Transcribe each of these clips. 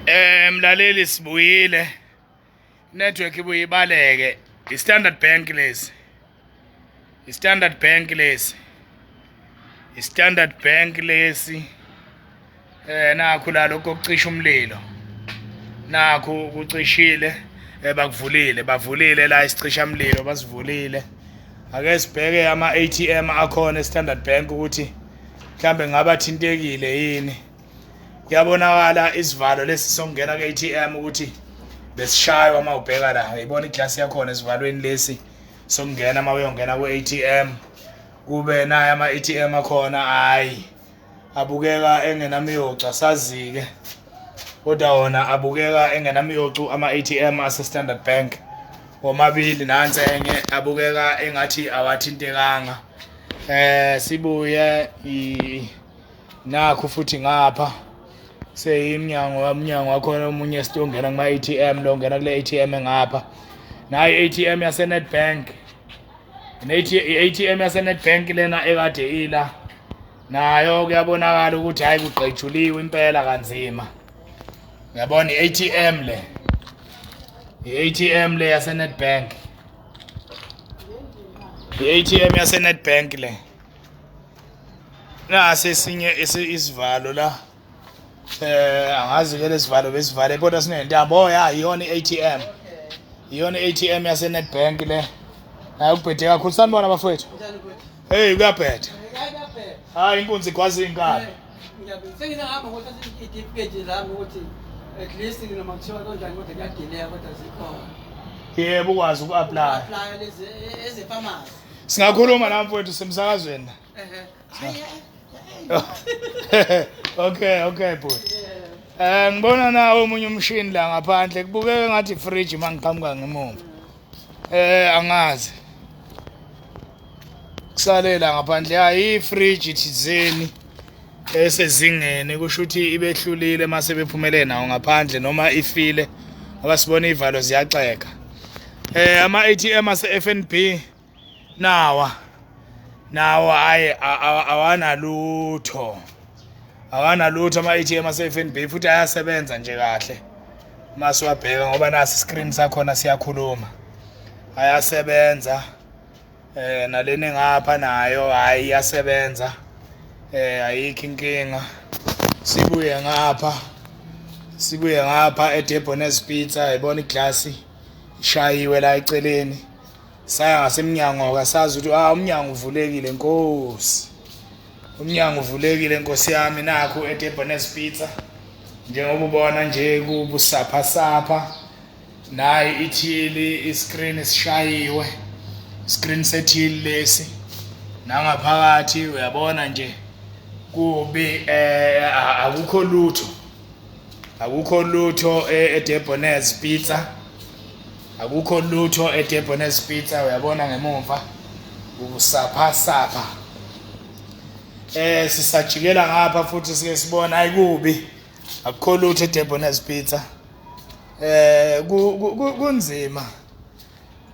Eh mlaleli sibuyile. Network ibuye ibaleke. I-Standard Bank lesi. I-Standard Bank lesi. I-Standard Bank lesi. Eh nakho la lokho kucisha umlilo. Nakho kucishile eh bakuvulile, bavulile la isicisha umlilo basivulile. Ake sibheke ama ATM akhona e-Standard Bank ukuthi mhlambe ngaba thintekile yini kuyabonakala isivalo lesi sokungena ku-ATM ukuthi besishaywa uma ubheka la uyibona iglasi yakhona esivalweni lesi sokungena uma uyongena ku-ATM kube naye ama-ATM akhona hayi abukeka engenamiyocu asazike kodwa wona abukeka engenamiyocu ama-ATM ase-Standard Bank womabili nansi enye abukeka engathi awathintekanga eh sibuye nakho futhi ngapha seyimnyango wamnyango wakhona omunye esitongena kuma ATM lo ngena kule ATM engapha nayi ATM yase Nedbank ne ATM yase Nedbank lena ekade ila nayo kuyabonakala ukuthi hayi kugqejuliwe impela kanzima uyabona i-ATM le i-ATM le yase Nedbank I-ATM yaseNedbank le nasi esinye isivalo la eh angazi ke lesivalo besivale kodwa sinentambo oh ya iyona i-ATM iyona i-ATM yaseNedbank le hayi ubhede kakhulu sanibona bafowethu hey kuyabheda hayi inkunzi igwaza iy'nkalo Sengisahamba ukuthi idifiketi zami ukuthi at least noma kuthiwa kanjani kodwa kuyadileka kodwa zikhona. Yebo ukwazi uku-apply. Apply lezi ezefamasi. Singakhuluma la mfowethu semsakazweni. Ehe. Hayi. Okay, okay bhuti. Eh ngibona nawo omunye umshini la ngaphandle kubukeka ngathi fridge mangiqhamuka ngemuva. Eh angazi. Kusalela ngaphandle hayi fridge thizeni esezingeni kusho ukuthi ibehlulile mase bephumele nawo ngaphandle noma ifile abasibona ivalo ziyaxeka. Eh ama ATM ase FNB nawa nawo ayi awanalutho awanalutho ama-atm ase-fnb futhi ayasebenza nje kahle uma siwabheka ngoba nasi screen sakhona siyakhuluma ayasebenza eh naleni ngapha nayo hayi iyasebenza eh ayikho inkinga sibuye ngapha sibuye ngapha eDebonese Pizza yibona iglasi ishayiwe la eceleni saya ngasemnyango akasazi ukuthi ah umnyango uvulekile nkosi umnyango uvulekile nkosi yami nakho eDebenes Pizza njengoba ubona nje kubusapha sapha nayi ithili iscreen sishayiwe screen sethili lesi nangaphakathi uyabona nje kubi eh akukho lutho akukho lutho e, edebonez pizza akukho lutho edebonez pizza uyabona ngemumva ukusapha sapha eh sisajikela ngapha futhi sike sibona ayikubi akukho lutho edebonez pizza eh kunzima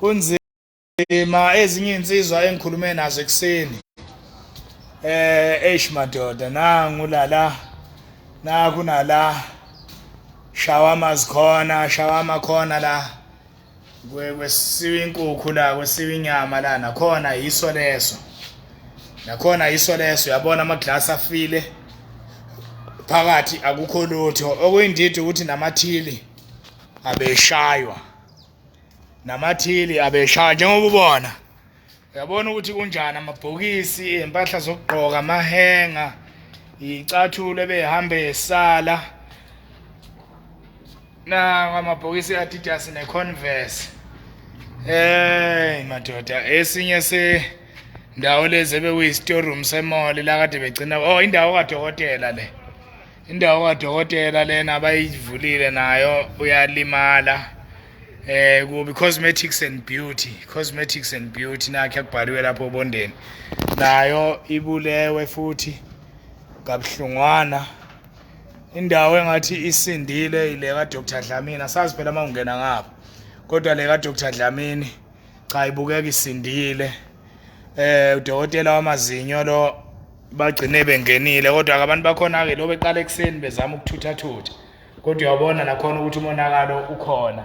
kunzima Nzima ezinye insizwa engikhulume nazo ekuseni. Eh eish madoda nangu lala naku nala shawama zikhona shawama khona la kwesiwa inkukhu la kwesiwa inyama la nakhona yiso leso nakhona yiso leso uyabona ama glass afile phakathi akukho lutho okuyindidi ukuthi namathili abeshaywa namathili abeshaya njengoba ubona uyabona ukuthi kunjani amabhokisi iy'mpahla zokugqoka amahenga iy'cathulo ebehambe esala nawo amabhokisi e-adidas ne-converse hey madoda esinye se ndawo lezi ebekuyi-storeroom semole la kade begcina oh indawo kadokotela le indawo kadokotela lena abayivulile nayo uyalimala eh kubi cosmetics and beauty cosmetics and beauty nakhe akubhaliwe lapho obondeni nayo ibulewe futhi kabuhlungwana indawo engathi isindile ile ka Dr Dlamini asazi phela mawungena ngapha kodwa le ka Dr Dlamini cha ibukeka isindile eh udokotela wamazinyo lo bagcine bengenile kodwa ke abantu bakhona ke lo beqala ekuseni bezama ukuthutha thutha kodwa uyabona nakhona ukuthi umonakalo ukhona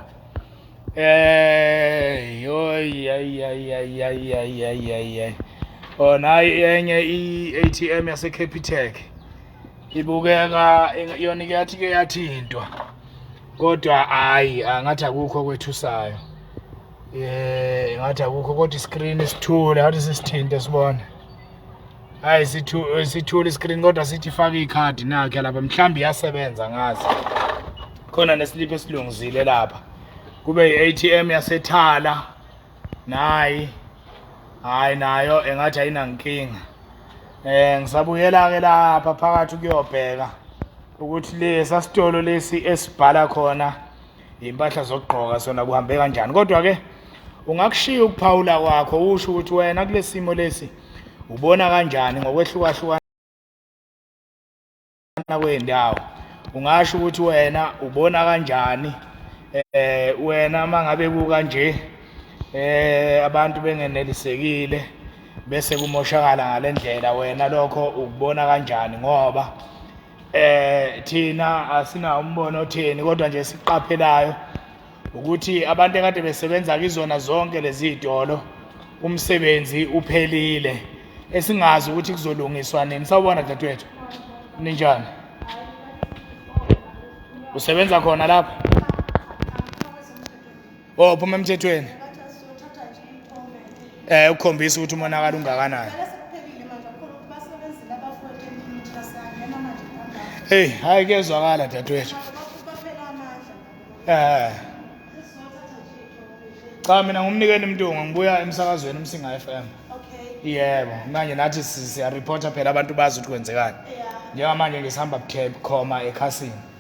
eh yoy ay ay ay ay ay ay ay ay ona enye i-ATM yase Capitec ibukeka yona iyathi ke yathintwa kodwa hayi angathi akukho kwethusayo Eh ngathi akukho kodwa iscreen isithule ngathi sisithinte sibona. Hayi sithu sithule iscreen kodwa sithi faka icard nakhe lapha mhlambi yasebenza ngazi. Khona neslip esilungizile lapha. Kube iATM yasethala. Nayi. Hayi nayo engathi ayinankinga. Eh ngisabuyela ke lapha phakathi kuyobheka ukuthi lesa sitolo lesi esibhala khona impahla zokugqoka sona kuhambe kanjani kodwa ke ungakushiya ukuphawula kwakho usho ukuthi wena kulesimo lesi ubona kanjani ngokwehlukahlukana kwendawo ungasho ukuthi wena ubona kanjani eh wena mangabe kuka nje eh abantu bengenelisekile bese kumoshakala ngalendlela wena lokho ukubona kanjani ngoba eh thina asina umbono otheni kodwa nje siqaphelayo ukuthi abantu ekade besebenza kizona zonke lezi zitolo umsebenzi uphelile esingazi ukuthi kuzolungiswa nini sawubona dadewethu ninjani usebenza khona lapha Oh phuma emthethweni. Eh ukukhombisa ukuthi umonakala ungakanani. Hey, hayi kezwakala dadwethu. Eh. Cha mina ngumnikeni mntungu ngibuya emsakazweni umsinga FM. Okay. Yebo, manje nathi siya reporter phela abantu bazi ukuthi kwenzekani. Yeah. Njengamanje ngisihamba bukhoma ekhasini.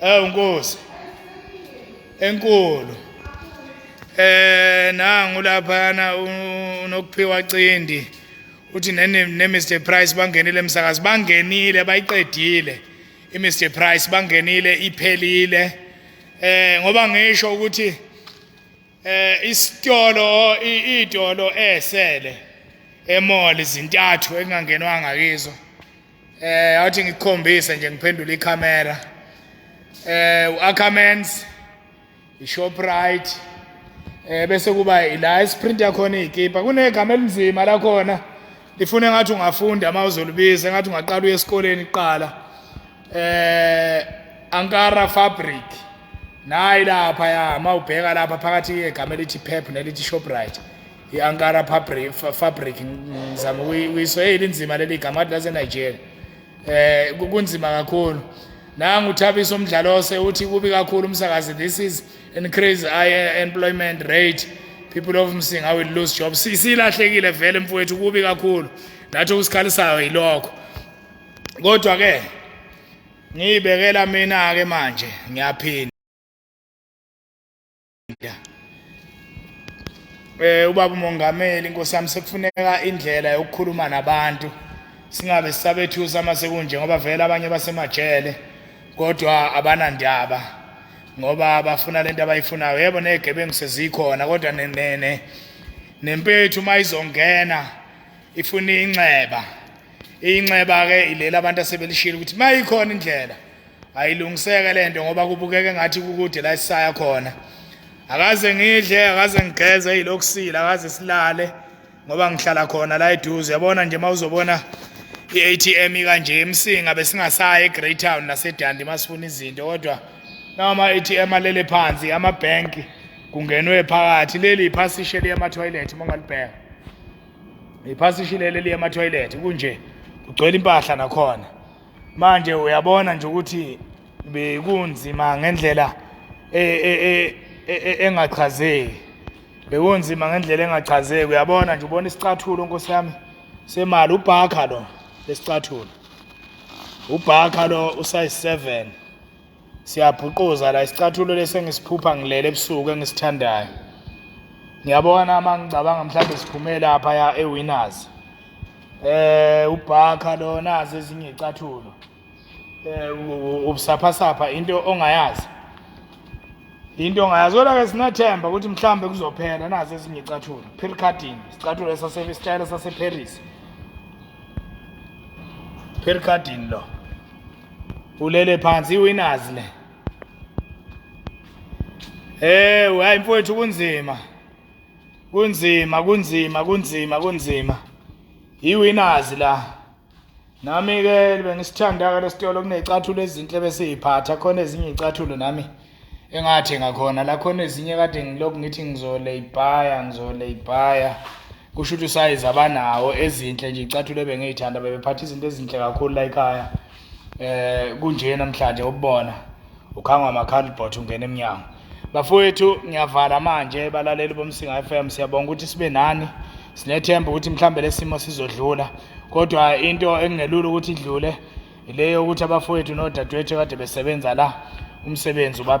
Awu Nkosi. Enkulu. Eh nangu laphana unokuphiwa cindi. Uthi nene ne Mr Price bangenile emsakazi bangenile bayiqedile. I Mr Price bangenile iphelile. Eh ngoba ngisho ukuthi eh isitolo idolo esele emall izintathu engangenwanga kizo. eh awuthi ngikukhombise nje ngiphendula ikhamera eh uAckermans iShoprite eh bese kuba ila isprint yakhona ikipa kunegama elinzima la khona lifune ngathi ungafunda uma uzolubiza ngathi ungaqala uye esikoleni kuqala eh Ankara Fabric nayi lapha ya mawubheka lapha phakathi egama elithi Pep nelithi Shoprite i-ankara fabric fabric ngizama ukuyisoyela inzima leli gama athi lasenigeria eh kunzima kakhulu nangu uthabisa umdlalo ose uthi kubi kakhulu umsakazi this is increase eh, employment rate people of msinga will lose job silahlekile vele mfowethu kubi kakhulu nathi okusikhalisayo yilokho kodwa ke ngiyibekela mina ke manje ngiyaphinda ukuyigida eh ubaba umongameli inkosi yami sekufuneka indlela yokukhuluma nabantu singabe sisabethusa uma sekunje ngoba vele abanye basemajele kodwa abanandaba ngoba bafuna lento abayifunayo yebo negebengu sezikhona kodwa nenene nempethu uma izongena ifuna inxeba inxeba ke ilela abantu asebelishilo ukuthi mayikhona indlela ayilungiseke lento ngoba kubukeka engathi kukude la sisaya khona akaze ngidle akaze ngigeze yilokusila akaze silale ngoba ngihlala khona la eduze yabona nje mawuzobona i-ATM kanje emsinga besingasayi eGreytown naseDandi masifuna izinto kodwa nama ATM alele phansi ama bank kungenwe phakathi leli iphasishe liya ama toilet mongalibheka iphasishe leli liya ama toilet kunje kugcwele impahla nakhona manje uyabona nje ukuthi bekunzima ngendlela e, e, e, engachazeki bekunzima ngendlela engachazeki uyabona nje ubona isicathulo nkosi yami semali ubhakha lo lesicathulo ubhakha lo usayi 7 siyabhuquza la isicathulo lesi engisiphupha ngilele ebusuku engisithandayo ngiyabona uma ngicabanga mhlawumbe siphume lapha ya ewinners eh ubhakha lo nazi ezinye icathulo eh ubusaphasapha into ongayazi into ongayazi kodwa ke sinathemba ukuthi mhlawumbe kuzophela nazi ezinye icathulo pircadin isicathulo esasebisitayela saseparis pircadin lo ulele phansi iwinners le Eh hayi mfowethu kunzima kunzima kunzima kunzima kunzima iwinners la nami ke bengisithanda ke lesitolo kunecathulo ezinhle besiyiphatha khona ezinye icathulo nami engathi ngakhona la khona ezinye kade ngilokhu ngithi ngizoleyibhaya ngizoleyibhaya kusho ukuthi usayizi abanawo ezinhle nje icathule bengiyithanda bebephatha izinto ezinhle kakhulu la ekhaya eh kunje namhlanje ubona ukhangwa amakhalibhot ungena emnyango bafowethu ngiyavala manje balaleli bomsinga FM siyabonga ukuthi sibe nani sinethemba ukuthi mhlambe lesimo sizodlula kodwa into engingelula ukuthi idlule Ileyo ukuthi abafowethu nodadewethu kade besebenza la umsebenzi uba